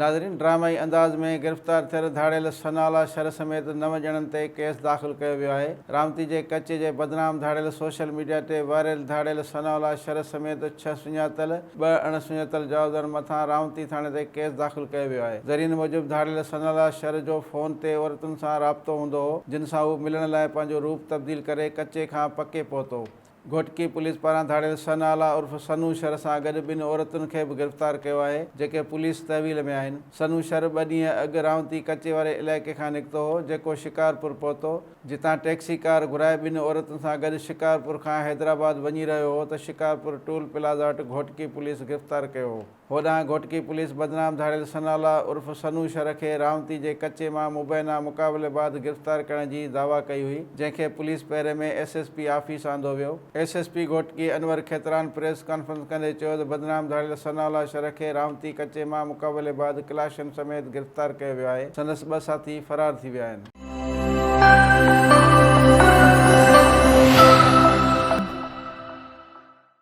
ناظرين ڊرامائي انداز ۾ گرفتار ٿيل ڌاڙيل سنالا شر سميت نو ڄڻن تي ڪيس داخل ڪيو ويو آهي رامتي جي ڪچي جي بدنام ڌاڙيل سوشل ميڊيا تي وائرل ڌاڙيل سنالا شر سميت ڇهه سڃاتل ٻه اڻ سڃاتل جوابدارن مٿان رامتي ٿاڻي تي ڪيس داخل ڪيو ويو آهي ذريعن موجب ڌاڙيل سنالا شر جو فون تي عورتن سان رابطو هوندو هو جن سان هو ملڻ لاء پنهنجو روپ تبديل ڪري ڪچي کان پڪي پهتو گهوٽڪي پوليس پاران ڌاڙيل سنهالا عرف سنو شر سان گڏ ٻن عورتن کي به گرفتار ڪيو آهي، جيڪي پوليس تحويل ۾ آهن. سنو شر ٻه ڏينهن اڳ رائونتي ڪچي واري علائقي کان نڪتو هو، جيڪو شڪارپور پهتو، جتان ٽيڪسي ڪار گهرائي ٻن عورتن سان گڏ شڪارپور کان حيدرآباد وڃي رهيو هو ته شڪارپور ٽول پلازا وٽ گهوٽڪي پوليس گرفتار ڪيو هو. هوڏانهن گهوٽڪي پوليس بدنام ڌاڙيل ثناء الله عرف ثنو شر کي رامتي جي ڪچي مان مبينا مقابلي بعد گرفتار ڪرڻ جي دعويٰ ڪئي هئي، جنهن کي پوليس پهري ۾ ايس ايس پي آفيس آندو ويو. S S P Ghotki Anwar Khetran press conference ڪندي چيو ته بدنام ڌاڙيل ثناء الله شر کي رامتي ڪچي مان مقابلي بعد ڪلاشن سميت گرفتار ڪيو ويو آهي، سندس ٻه ساٿي فرار ٿي ويا آهن.